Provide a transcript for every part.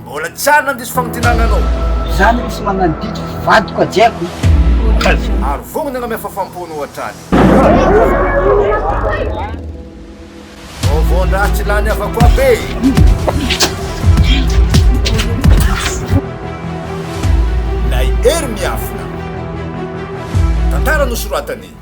Mbola tsy ary nandiso famintinana anao. Izany misy magnano didy vadiko ajiako. Ary vogny ny anamia fafam-pony ohatrany. Vaovaon-draha tsy lany havako aby e! Lay Hery miafina. Tantara nosoratan'i.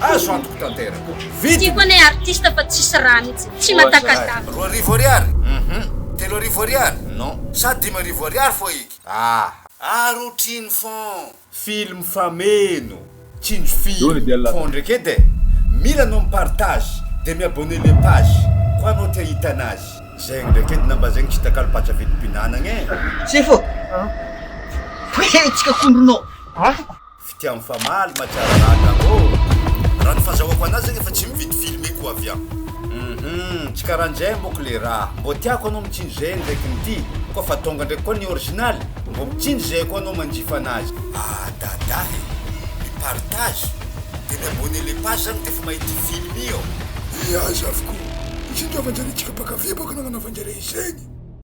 Azo antoko tanteraka. Vidiny. Tiako anie artiste fa tsisy raha mitsy. Tsy matakadavina. Roa arivo ariary? Hum. Telo arivo ariary? Non. Sa dimy arivo ariary fô iky? Ah. Ary otrino fon. Film fameno, tsinjo film. Fon ndreky edy e. Mila anao mi-partage de mi-abonner le page koa anao te ahita anazy. Zegny ndreky edy na mba zegny tsy takalo patsa vidim-pinanagna e. Sefo! He he! Tsy kakondronao! Fitia mifamaly ma tsara ranga ô! Raha ny fazahoako anazy zany efa tsy mividy filme ko avy an! Hum tsy karanjay mbok le raha, mbô tiako anao mitsinjo zay ndraiky ny ty koa fa tonga ndraiky koa ny original mbô mitsinjo zay koa anao manjifa anazy. Ah Dada e! Mi partage de mi abonner le page zany defa mahita film io. Eeh aza avokoa! Izay itiavan-djareo antsika mpankafy baka no agnanaovan-djareo izegny.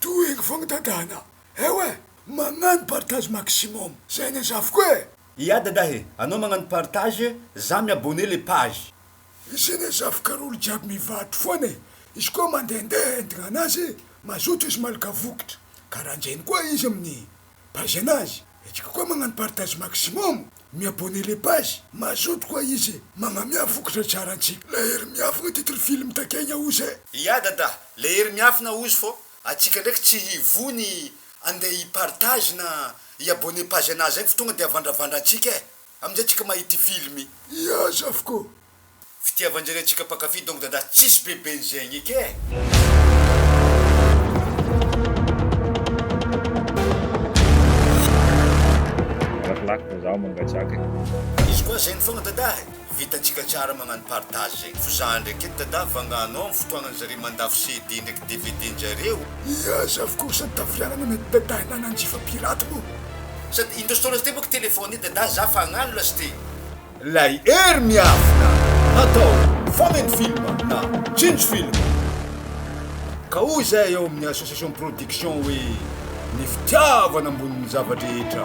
Tohiny fô mitandrana eo e! Magnano partage maximum zay ne zafy ko e! Ia dadah e! Anao magnano partage za mi abonner le page. Izy ne zafy kara olo jiaby mivarotro foana e! Izy koa mandehandeha entigna anazy mazoto izy malaka vokitra! Karanjegny koa izy amin'ny. Paizana azy etsika koa magnano partage maximum mi abonner le page mazoto koa izy e magnamia fokotra tsara antsika le hery miafina titre film takegna ozy e. Ia Dadah, le hery miafina ozy fô atsika ndraiky tsy hivoa ny andeha hi partage na hi abonner page anazy any fa tonga de avandravandra antsika e. Amin'izay tsika mahita ity film. Miasa avokoa. Fitiavan-dry re tsika mpankafy donc dada tsisy be ben'izegny eky eh. Malakilaky fa zaho mangatsiaka e. Izy koa zegny fogna Dadah e! Vitantsika tsara magnano partage zegny fo za ndraiky eto Dadah vangano amin'ny fotoagnan'ny zareo mandafo CD ndraiky DVD-njareo. Miasa avokoa sady tafiarana mety Dadah na Nanjifa pirate moa. Sady indro story sty boka telephone i dadah za fa agnano lasty. Lay hery miafina natao fameno film na tsinjo film ka hoy izay ao amin'ny association production hoe ny fitiavana ambonin'ny zava-drehetra.